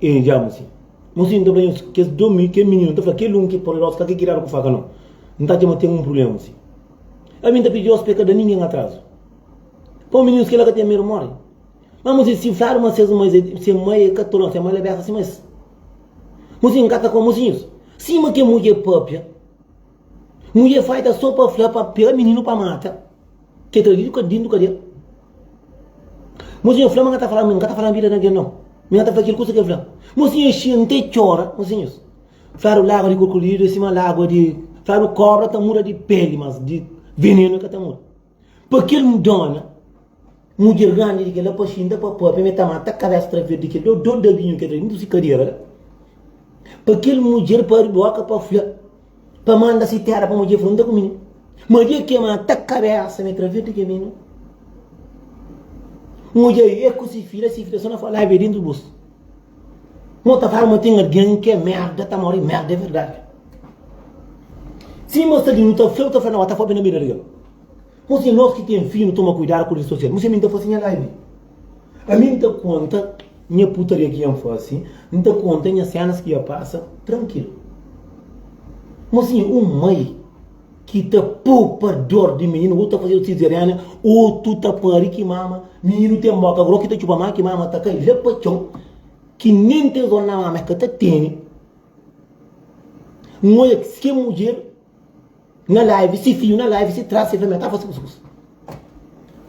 E dja N sin. N sin ta fla nhos, kes dô mi, kel mininu ta fla, kel un ki é poderozu ka ta kiradu ku faka nau. N ta atxa ma ten un prubléma si ami N ta pidi-os pa e ka da ningen atrazu. Pau mininus kila ka ten medu mori. Má N sin, si N fladu ma ses mais é, se mai é katolon, se mai la besa sima es. N sin, N ka ta koma mosinhus sima kel mudjer pâpia. Mudjer fai ta so pa fla pa pera mininu pa mata ke traidu ka dindu kadia. Monsenhor fla ma nga ta fala mi nga ta fala vida na gen no mi nga ta fla kel kusa kel fla monsenhor xia nte txora monsenhor fladu lagua di kurkulidu e sima lagua di fladu kobra ta muda di peli mas di venenu e ka ta muda. Pa kel dona, mudjer grandi di kel-la paxi inda pa pâpia, ma el ta mata kabésa tra verdi kel dó, dó da binhu ki el tra dintu si kadera la. Pa kel mudjer, pa abri bóka pa fla, pa manda si téra pa mudjer fla, N ta kume nu. Ma dia ki el mata kabésa ma el tra verdi kel binhu, n odja el, el ku si fidju, la si fidju ta sta na falábia dintu bus. Nós tá fala ma tem alguém que é merda, tá morre merda, é verdade. Sim, mas ali não tá feio, tá feio, não, tá fobe na mira dele. Mas se nós que tem filho, toma cuidado com o social. Mas se mim tá fazendo a live. A mim tá conta, minha putaria que ia fazer, não tá conta, minha cenas que ia passar, tranquilo. Mas sim, um mãe, ki ta poupa dor di mininu ou ta fazedu sizeriana ou tu ta pari ki mama mininu ten boka agora ou ki ta txupa ma ki mama ta kai la pa txon ki nen três oras na mama el ka ta teni N odja se mudjer na live, se fidju na live, se trás, se fêmia ta fase kuskus.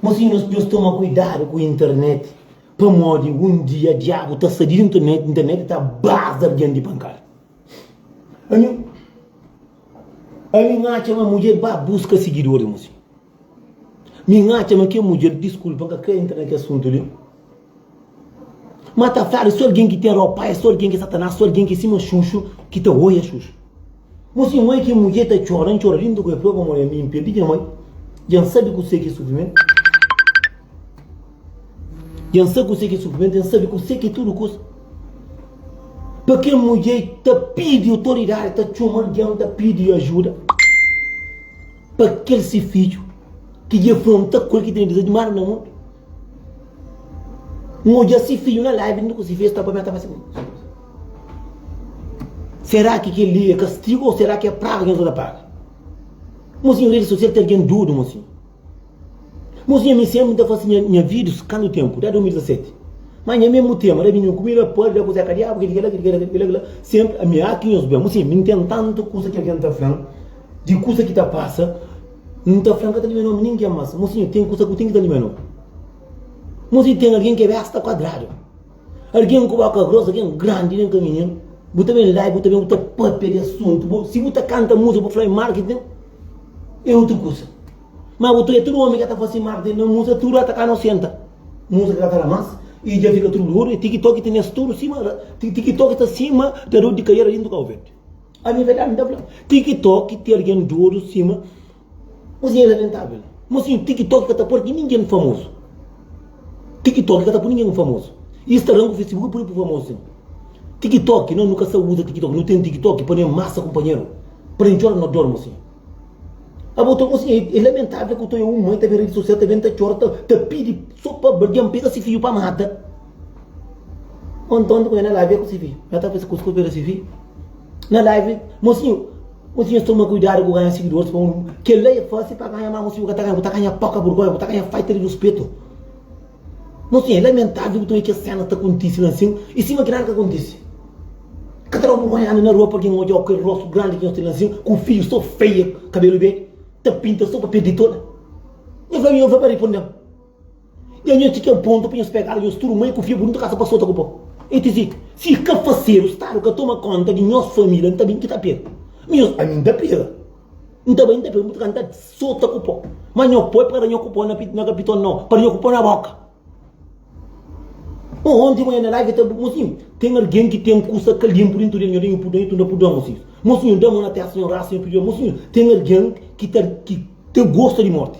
Mosinhu, nhos, nhos toma kuidadu ku internet, pamodi un dia diabu ta sa di internet, internet ta baza algen di pankada. Ami, ami n'atxa ma mudjer ba buska sigidor di Musi. Mi n'atxa ma kel mudjer, diskulpa, n'ka krê intra na kel asuntu li, ma ta fla di sô algen ki ten ropaia, sô algen ki é Satanás, sô algen ki é sima Xuxu ki ta oia Xuxu. Musi ma é ki mudjer ta txora, n'txora lindu ku el, pamodi ami n'perde nha mai, dja n'sabe kuzê ki é sufrimentu. E N sa kuse ki é sufrimentu, e N sabe kuse ki é tudu kuza. Pa kel mudjer ki ta pidi otoridadi, ta txoma algen, ta pidi ajuda pa kel se fidju ki dja fronta ku el, ki tene dizazi di manda na mundu. N odja se fidju na laivi inda ku se festa, pa mi el ta fase kuza. Sera ki kel-li é kastigu ô sera ki é praga ki nhos ta paga? Monsinhor, redi sosial ten algen dudu, monsinhor. Mos nha mi sempri ta fasi nha vidus kandu tempu da 2017 ma nha memu tema da bini ku mi la padi da kuze ka diabu kidi kila kidi kila kila sempri ami a ki nhos ben mos nha mi n ten tantu kusa ki algen ta flan di kusa ki ta pasa n ta flan ka ta limia nomi ningen mas mos nha ten kusa ku ten ki ta limia nomi mos nha ten algen kebesa ta kuadradu. Algen ku boka gross, algen grandi nen kaminhenu. Bu ta ben la e bu ta ben bu ta papia di asuntu. Bu, si bu ta kanta musa, bu fla e marketing, e utru kusa. Ma bu ta oja tudu omi ke ta fasi marketing na musa, tudu ata ka nosenta. Musa ke ka ta la mas e dja fika tudu lodu e tikitoki ta nes tudu sima, tikitoki ta sima tador di kaiera di ntu Kau Verdi. Ami verdadi nta fla, tikitoki ti algen dodu sima. Mas é lamentável. Mas sim, TikTok ka ta pôr ki ninguém famoso. TikTok ka ta pôr ninguém famoso. Instagram ku Facebook pôr pôr famoso sim. TikTok, não, nu ka sa usa TikTok. Nu tem TikTok pa nem massa companheiro. Para nem chora no dormo sim. Abo to assim, é, é lamentável que eu tô eu mãe tá bem rede social tá bem tá chora tá, tá pede só para alguém pega esse filho para mata. Ontem quando ela live com esse filho, ela tá pensando que eu pega esse filho. Na live, mocinho, Ô si nhos toma kuidadu ku ganha sigidoris pa mundu, kel-la é fásil pa ganha, má mos bu ka ta ganha, bu ta ganha poka burgónha, bu ta ganha falta di ruspetu. Nos tinha, é lamentável utun é kes sénas ta kontise la ansin i sima ki nada ka kontise. Ka ta da-u burgónha anda na rua pa algen odja-u ku kel róstu grandi ki nhos ten la ansin, ku un fidju sô feia, kabelu bê ta pinta sô pa perde toda? Nha fla-m i nhos fla pa riponde-m. Dja nhos txi kel pontu pa nhos pegá-l nhos tudu mai ku fia-bu, nu ta kasa pa sota ku po. El ta fika, Si i ka fasedu, Stadu ka toma kónta di nhos família, N ta ben ki ta pega. Ma nhos, ami N ta pega. N ta bai, N ta pega, N bu ta kasa, N ta sota ku po. Ma nho po é pa kada nho ku po na na kapiton, nau, pa kada nho ku po na boka. Ô, onti manha na live ta bu, Mosinhu, ten algen ki ten kusa ka linpu di ntu di el, nho da nhu pudon, i tunda pudon, mosinhus. Mosinhu, da mon na testa, nho rasa, nho pidi-l, Mosinhu, ten algen ki ta ki ta gosta di morti.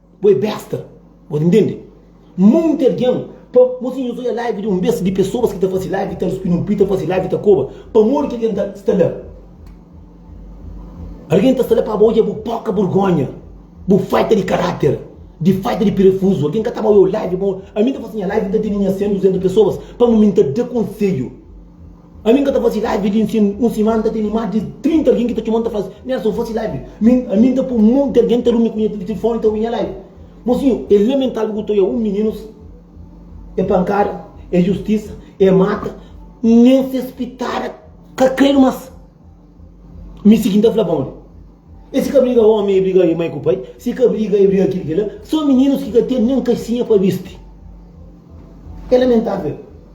Bo é besta, bo ta ntende? Monti algen, pa mosi nhos oia live di un bes di pesoas ki ta fase live ta ruspindu un pita fase live ta koba pamodi ki algen ta sta la. Algen ta sta la pa ba oia bo poka burgonha, bo falta di karater, di falta di perefuzu. Algen ka ta ba oiau live, ami ta fase nha live, mi ta tene nha 100, 200 pesoas pa mi mi ta da konseiu. Ami n ka ta fase live di nsin, un simana n ta tene más di 30 algen ki ta txoma-m ta fase. Nelson, fase live. Mi, ami n ta poi monti algen ta runi ku nha tilifoni ta obi nha live. Mosinhu, é lamentável ku Toia, un mininu sô. É pankada, é justisa, é mata, nen ses pitada ka kredu más. Mi sigi n ta fla, Bon, e si ka briga ómi, e briga mai ku pai, si ka briga, e briga kil-ki-la, sô mininus ki ka ten nen kaxinha pa bisti. É lamentável.